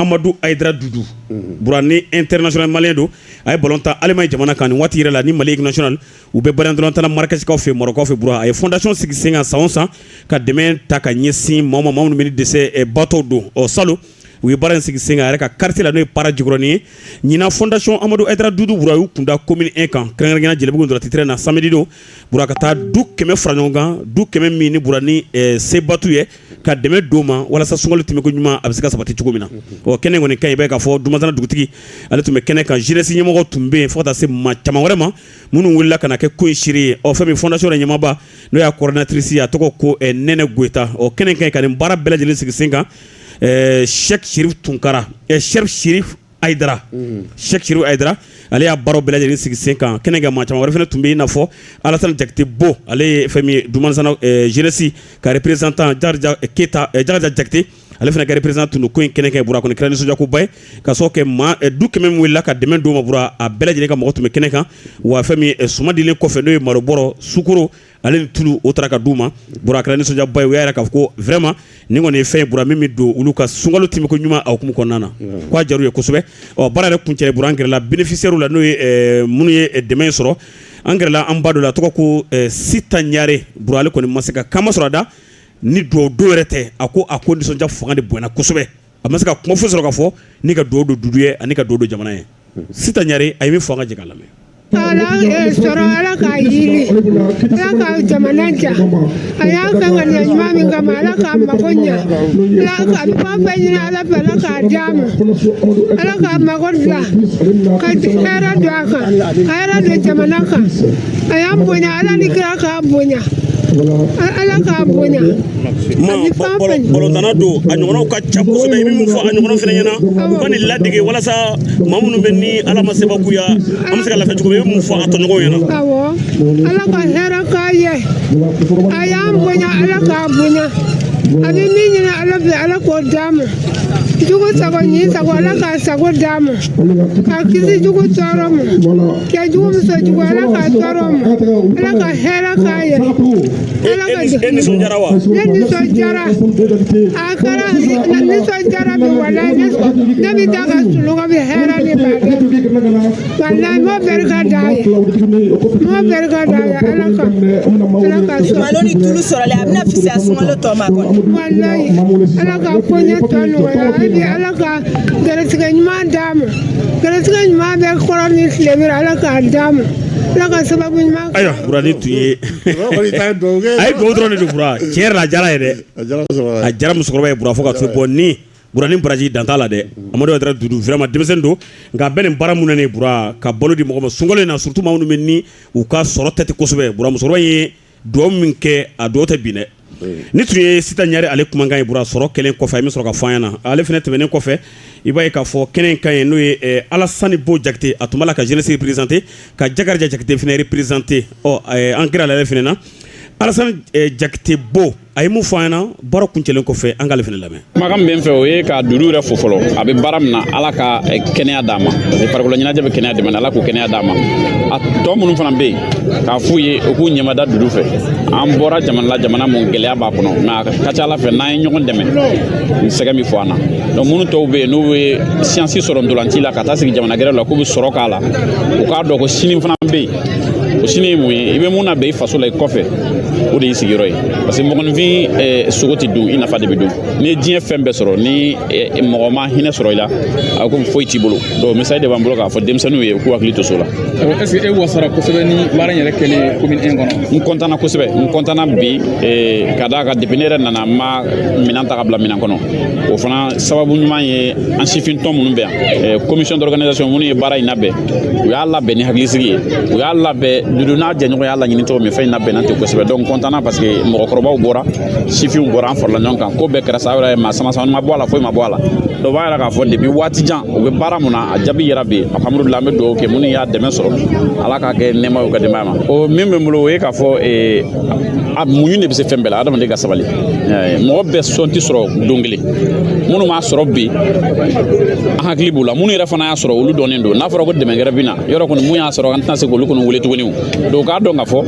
amadu ayidara dudu burani ɛntɛrinasiyɔnali maliyɛn don a ye balɔn tan alimaɲi jamana kan waati yɛrɛ la ni mali nasiyɔnali u bɛ balɔn tan marakɛsikaw fɛ marɔkukaw fɛ bura a ye fɔndasiyɔn sigi sen kan san o san ka dɛmɛ ta ka ɲɛsin maa minnu bɛ dɛsɛbaatɔ don ɔ salon u ye baara in sigi sen kan yɛrɛ ka karitiye la n'o ye para jikɔrɔni ye ɲinan fɔndasiyɔn amadu ayidara dudu bura y'u kunda komini ɛn kan kɛrɛnkɛrɛnnenya jelibugu dɔrɔn tɛrɛn na samedi don ka taa du kɛmɛ fara ɲɔgɔn kan du kɛmɛ min ni bura dɛsɛbaatɔ ye ka dɛmɛ d'o ma walasa sunkalo tɛmɛko ɲuman a bɛ se ka sabati cogo min na o kɛnɛ kɔni kan i bɛ k'a fɔ dumanzana dugutigi ale tun bɛ kɛnɛ kan zenɛsi ɲɛmɔgɔ tun bɛ yen fo ka taa se maa caman wɛrɛ ma minnu wulila ka na kɛ ko in seere ye o fɛn min fɔndasiyɔn yɛrɛ ɲɛmaaba n'o y'a kɔridinatirisi a tɔgɔ ko nɛnɛ goyita o kɛnɛ kan ka nin baara bɛɛ lajɛlen sigi sen kan sɛki serifu tunkara Ayidara Sɛki Serifu Ayidara ale y'a baaraw bɛɛ lajɛlen sigi sen kan kɛnɛ kan maa caman wɛrɛ fana tun bɛ yen i n'a fɔ Alasani Jakite Bo ale ye fɛn min ye Dumanzana zenɛsi ka reperezantan Jakarija Keyita Jakarija Jakite ale fana ka reperezantan tun don ko in kɛnɛ kan bura kɔni kɛra nisɔndiyakoba ye ka sababu kɛ maa du kɛmɛ min welela ka dɛmɛ d'o ma bura a bɛɛ lajɛlen ka mɔgɔ tun bɛ kɛnɛ kan wa fɛn min suman dilen kɔfɛ n'o ye malo bɔrɔ sukoro ale ni tulu o taara ka d'u ma bura a kɛra nisɔndiyaba ye u y'a yira k'a fɔ ko vraiment nin kɔni ye fɛn ye bura min bɛ don olu ka sunkalo tɛmɛko ɲuman a hukumu kɔnɔna na mm. ko a diyar'u ye kosɛbɛ ɔ baara yɛrɛ kuncɛlen bura an gɛrɛla benefisiyɛri la n'o ye eh, minnu ye eh, dɛmɛ sɔrɔ an gɛrɛla an ba dɔ la tɔgɔ ko eh, sita ɲare bura ale kɔni ma se ka kuma sɔrɔ a da ni duwa don yɛrɛ tɛ a ko a ko nisɔndiya fanga de bonyana kosɛbɛ a ma se ka kuma foyi sɔrɔ ka fɔ ni ka duwa don dudu ye ani ka duwa don jamana ye sita ɲare a ye min fɔ an ka jɛ k'a lamɛn sɔrɔ ala k'a yiri ala ka jamana diya a y'a kɛ ŋaniya ɲuman min kama ala k'a mago ɲa ala ka a bɛ fɛn fɛn ɲini ala fɛ ala k'a di a ma ala k'a mago dilan ka hɛrɛ don a kan ka hɛrɛ don jamana kan a y'an bonya ala ni kira k'a bonya ala k'a bonya balɔntanna don a ɲɔgɔnw ka ca kosɛbɛ i bɛ mun fɔ a ɲɔgɔn fana ɲɛna u ka nin ladege walasa maa minnu bɛ ni ala ma sebagaya an bɛ se ka lafiya cogo min i bɛ mun fɔ a tɔɲɔgɔnw ɲɛna awɔ ala ka hɛrɛ k'a ye a y'an bonya ala k'a bonya a bɛ min ɲini ala fɛ ala k'o d'a ma jugu sago n'i sago ala k'a sago d'a ma k'a kisi jugu tɔɔrɔ ma cɛ jugu muso jugu ala k'a tɔɔrɔ ma ala ka hɛrɛ k'a ye e nisɔndiyara wa ne nisɔndiyara a kɛra ne nisɔndiyara bi walayi ne ne bɛ taa ka sunɔgɔ bi hɛrɛ de b'a kɛ walayi n b'o barika d'a ye n b'o barika d'a ye ala ka ala ka sɔn malo ni tulu sɔrɔli a bɛna fisaya sunkalo tɔ ma kɔni walayi ala ka koɲɛ tɔ nɔgɔya hali ala ka gɛrɛsɛgɛ ɲuman d'a ma gɛrɛsɛgɛ ɲuman bɛ kɔrɔn ni tilebin na ala k'a d'a ma ala ka sababu ɲuman ayiwa bura nin tun ye a ye dugawu dɔrɔn de don bura tiɲɛ yɛrɛ la a jara ye dɛ a jara musokɔrɔba ye bura fo ka to bɔ ni bura ni baraji dan t'a la dɛ amadu ayidara dudu vraiment denmisɛnnin don nka a bɛ nin baara mun na nin bura ka balo di mɔgɔ ma sunkalo in na surtout maa minnu bɛ ni u ka sɔrɔ tɛ ten kosɛbɛ bura musokɔrɔba ye dugawu min kɛ a dugawu tɛ bin dɛ nin tun ye sita ɲare ale kumakan ye bura sɔrɔ kɛlen kɔfɛ a ye min sɔrɔ ka fɔ an ɲɛna ale fana tɛmɛnen kɔfɛ i b'a ye k'a fɔ kɛnɛ in kan yen n'o ye eh, alassane bo jakite a tun b'a la ka jeunesse représenter ka jakariya jakite fana représenter ɔ eh, an gɛrɛla ale fana na alassane jakite bo a ye mun fɔ an ɲɛna baara kuncɛlen kɔfɛ an k'ale fana lamɛn kumakan min bɛ n fɛ o ye ka dudu yɛrɛ fo fɔlɔ a bɛ baara min na ala ka eh, kɛnɛya d'a ma farikolo ɲɛnajɛ bɛ kɛnɛya dɛmɛ ala k'o kɛnɛya d'a ma a tɔ minnu fana bɛ yen k'a f'u ye u k'u ɲɛmada dudu fɛ an bɔra jamana la jamana mun gɛlɛya b'a kɔnɔ mais a ka ca ala fɛ n'an ye ɲɔgɔn dɛmɛ sɛgɛn min fɔ an na donc minnu tɔw bɛ yen n'u bɛ chance sɔrɔ ntolanci la ka taa sigi jamana gɛrɛ la k'u bɛ sɔrɔ k'a la u k'a dɔn ko sini fana bɛ yen o sini ye mun ye i bɛ mun labɛn i faso la i kɔfɛ o de y'i sigiyɔrɔ ye parce que mɔgɔninfin eh, sogo tɛ dun i nafa de bɛ dun n'i ye diɲɛ fɛn bɛɛ sɔrɔ ni eh, mɔgɔ ma hinɛ sɔrɔ i la a ko foyi t'i bolo donc message de b'an bolo k'a fɔ denmisɛnninw ye u k'u hakili to so la. est ce que e wasara kosɛbɛ ni baara in yɛrɛ kɛlen commune 1 kɔnɔ. n kɔntanna kosɛbɛ n kɔntanna bi eh, ka d'a kan depuis ne yɛrɛ nana n ma minɛn ta ka bila minɛn kɔnɔ o fana sababu ɲuman ye an sifin tɔn minnu bɛ yan commission d'organisation minnu ye baara in labɛn. u y'a labɛn ni hakilisigi ye u y'a labɛn dudu n'a jɛɲɔgɔn y'a laɲini cogo min fɛn in labɛnna ten kosɛbɛ donc n kɔntanna parce que mɔgɔkɔrɔbaw bɔra sifinw bɔra an farala ɲɔgɔn kan ko bɛɛ kɛra sa yɛrɛ maa sama sama ma bɔ a la foyi ma bɔ a la donc b'a yira k'a fɔ depuis waati jan u bɛ baara mun na a jaabi yera bi alhamdulila an bɛ dugawu kɛ minnu y'a dɛmɛ sɔrɔ ala k'a kɛ nɛɛma y'u ka denbaya ma o min bɛ n bolo o ye k'a fɔ eh, a muɲu de bɛ se fɛn bɛɛ la adamaden ka sabali eh, mɔgɔ bɛɛ sɔn tɛ sɔrɔ don kelen minnu m'a sɔrɔ bi an hakili b'u la minnu yɛrɛ fana a sɔrɔ olu dɔnnen don n'a fɔra ko dɛmɛ gɛrɛ bɛ na yɔrɔ kɔni mun y'a sɔrɔ an tɛna se k'olu kɔni wele tuguni donc k'a dɔn k'a fɔ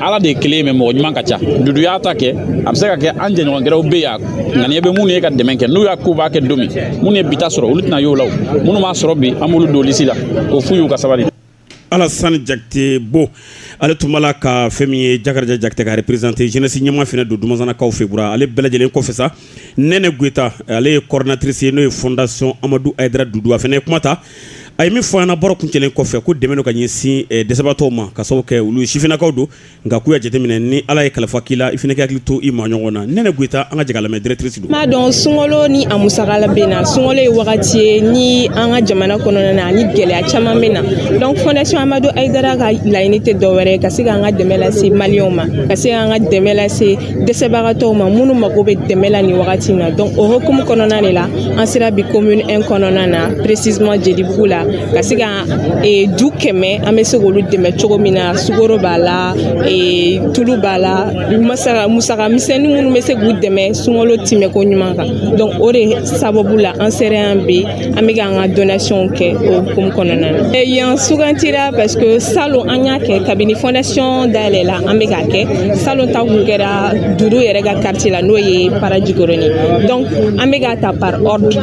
ala de ye kelen ye mais mɔgɔ ɲuman ka ca dudu y'a ta kɛ a bɛ se ka kɛ an jɛɲɔgɔn gɛrɛw bɛ yan ŋaniya bɛ minnu ye ka dɛmɛ kɛ n'u y'a ko u b'a kɛ don min minnu ye bi ta sɔrɔ olu tɛna y'o la minnu m'a sɔrɔ bi an b'olu don lisi la k'o f'u y'u ka sabali Alassane Jakite Bo ale tun b'a la ka fɛn min ye Jakariya Jakite ka représenter jeunesse ɲɛmaa fana don Dumanzanakaw fɛ bura ale bɛɛ lajɛlen kɔfɛ sa, Nɛnɛ Goyita ale ye coordinatrice ye n'o ye fondation Amadou Ayidara Doudou a fana ye kuma ta, a ye min fɔ an ɲɛna baro kuncɛlen kɔfɛ ko dɛmɛ don ka ɲɛsin dɛsɛbagatɔw ma ka sababu kɛ olu sifinnakaw don nka k'u y'a jateminɛ ni ala ye kalifa k'i la i fana k'i hakili to i maaɲɔgɔn na nɛnɛ goyita an ka jɛ k'a lamɛn directrice don. i m'a dɔn sunkalo ni a musaka bɛ na sunkalo ye wagati ye ni an ka jamana kɔnɔna na ani gɛlɛya caman bɛ na donc fondation amadu ayidara ka laɲini tɛ dɔwɛrɛ ye ka se k'an ka dɛmɛ lase maliyɛnw ma ka se k'an ka dɛmɛ lase dɛsɛbagatɔw ma minnu mago bɛ dɛmɛ la nin wagati in na donc o hokumu kɔnɔna de la an sera bi commune 1 kɔnɔna na precisement jelibugu la ka se ka e, du kɛmɛ an bɛ se k'olu dɛmɛ cogo min na sukoro b'a la e, tulu b'a la musaka misɛnnin minnu bɛ se k'u dɛmɛ sunkalo tɛmɛ ko ɲuman kan donc o de sababu la an sera yan bi an bɛ k'an ka donation kɛ o hukumu kɔnɔna na e, yan sugantira parce que salon an y'a kɛ kabini fondation dayɛlɛla an bɛ k'a kɛ salon ta kun kɛra dudu yɛrɛ ka quartier la n'o ye parajikɔrɔni donc an bɛ k'a ta par ordre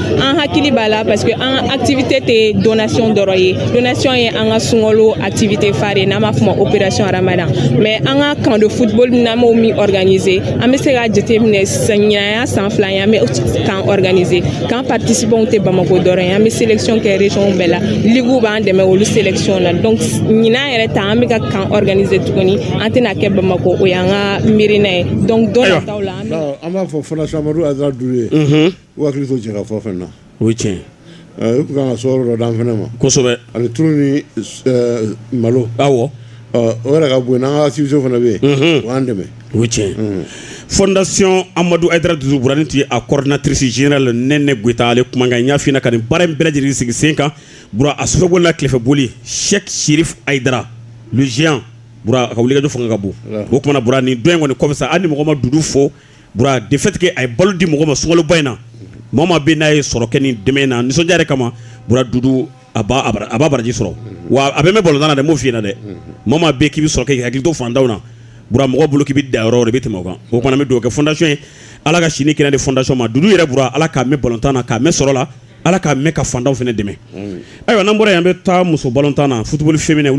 an hakili b'a la parce que an ka activité tɛ donation dɔrɔn ye donation ye an ka sunkalo activité phare ye n'an b'a f'o ma opération ramadan mais an ka camp de football n'an b'o min organiser an bɛ se k'a jateminɛ ɲinan y'a san fila ye an bɛ camp organiser camp participants tɛ bamako dɔrɔn ye an bɛ sélection kɛ région bɛɛ la ligue b'an dɛmɛ olu sélection na donc ɲinan yɛrɛ ta an bɛ ka camp organiser tuguni an tɛna kɛ bamako o y'an ka miirina ye donc don nataw la an b'a fɔ fondation amadou haïdara dudu ye U hakili to cɛ ka fɔ fɛn na o ye tiɲɛ u tun ka so dɔ dan fana ma kosɛbɛ ani tu ni malo aw o yɛrɛ ka bon n' ka sisi fana bɛ yen o anan dɛmɛ o ye tiɲɛ fdasiy amadu a duuru buran tɛ a kɔrɔnatirisi zy la ne ne gta ale kumakan n y'afin ka nin baara in bɛɛ lajɛlen sigi sen kan b a sogo la tilefɛ boli sɛ siri adra z a ka wuli don fanga ka bon o tumaumana b ni dɔn in kɔni kɔmisa ani ni mɔgɔ ma dugu fo de fait que a ye balo di mɔgɔ ma sunkaloba in na maa maa bɛ n'a ye sɔrɔ kɛ nin dɛmɛ in na nisɔndiya kama bura dudu a b'a baraji sɔrɔ wa a bɛ mɛn balontan na dɛ n b'o f'i ɲɛna dɛ maa maa bɛ k'i sɔrɔ kɛ k'i hakili to fantanw na mɔgɔ bolo k'i bɛ da yɔrɔ bɛ tɛmɛ o kan o kuma na n bɛ dugawu kɛ fondation ye ala ka sini kɛnɛ di fondation ma dudu yɛrɛ bura ala k'a mɛn balontan na k'a mɛn sɔrɔ la ala k'a mɛn ka fantanw fana dɛmɛ ayiwa n'an bɔra yan an bɛ taa muso balontan na football féminin